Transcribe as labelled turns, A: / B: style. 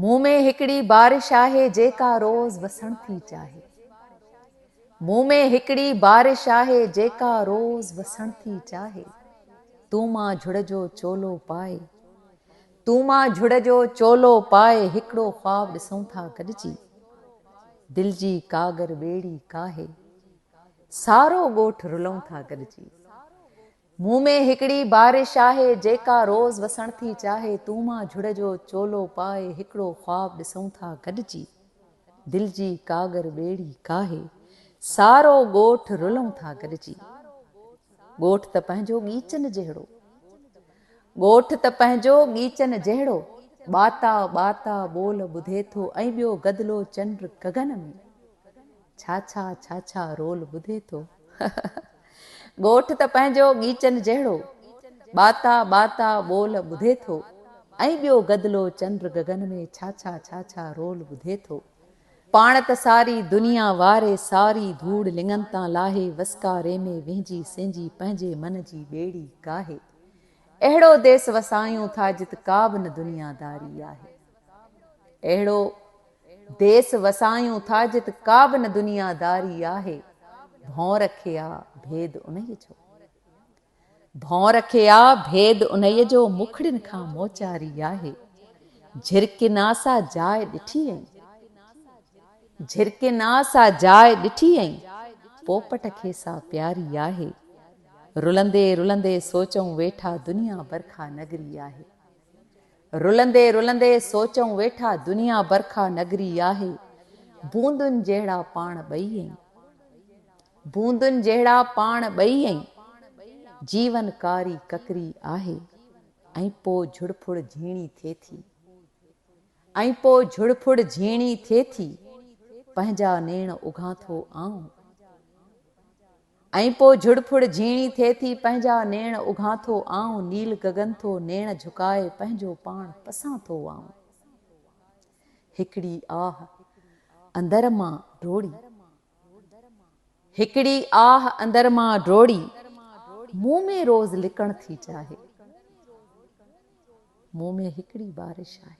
A: مون ۾ هڪڙي بارش آهي جيڪا روز وسڻ ٿي چاهي مون ۾ هڪڙي بارش آهي جيڪا روز وسڻ ٿي چاهي تون مان جھڙ جو چولو پائي تون مان جھڙ جو چولو پائي هڪڙو خواب ڏسون ٿا گڏجي دل جي ڪاڳر ٻيڙي ڪاهي سارو ڳوٺ رلون ٿا گڏجي مون ۾ هڪڙي بارش آهي جيڪا روز وسڻ ٿي چاهي تون مان جھڙ جو چولو پائي هڪڙو خواب ڏسون ٿا گڏجي دل جي ڪاڳر ٻيڙي ڪاهي سارو ڳوٺ رلون ٿا گڏجي ڳوٺ ته پنهنجو ڳيچن جهڙو ڳوٺ ته پنهنجو ڳيچن جهڙو ٻاتا ٻاتا ٻول ٻڌي ٿو ۽ ٻيو گدلو چنڊ گگن ۾. ڇا ڇا ڇا ڇا رول ٻڌي ٿو ڳوٺ ته پنهنجو ڳيچن جهڙو ٻاتا ٻاتا ٻول ٻڌي ٿو ۽ ٻيو گدلو چنڊ گگن ۾ ڇا ڇا ڇا ڇا رول ٻڌي ٿو پاڻ ته ساري دنيا واري ساري ڌوڙ لڱن تان لاهي وسڪاري ۾ وهنجي سهنجي پنهنجي من جي ٻيڙي ڪاهي اهڙو ديس وسايون ٿا جت ڪا به نه دنيا داري آهي. اهڙو ديس وسايون ٿا جت ڪابه نه دنيا داري آهي ڀونر کي آ ڀيد انهيء جو ڀونر کي آ ڀيد انهيء جو مکڙين کان موچاري آهي جهرڪين آ سا جاء ڏٺي ائين جهرڪين آ سا جاء ڏٺي ائين پوپٽ کي سا پياري آهي رلندي رلندي سوچون ويٺا دنيا برکا نگري آهي. رلندي رلندي سوچئون ويٺا دنيا برکا نگري آهي بوندن جهڙا پاڻ ٻئي ائين بوندن جهڙا پاڻ ٻئي ائين جيون ڪاري ڪڪري آهي ۽ پو جھڙڦڙ جھيڻي ٿئي ٿي ۽ پو جھڙڦڙ جھيڻي ٿئي ٿي پنهنجا نيڻ اگھان ٿو آئون. ۽ پوء جھڙ ڦڙ جھيڻي ٿئي ٿي پنھنجا نيڻ اگھان ٿو آئون نيل گگن ٿو نيڻ جھڪائي پنھنجو پاڻ پسان ٿو آئون ھڪڙي آھ اندر مان ڊوڙي ھڪڙي آھ اندر مان ڊوڙي مون ۾ روز لڪڻ ٿي چاھي مون ۾ ھڪڙي بارش آھي.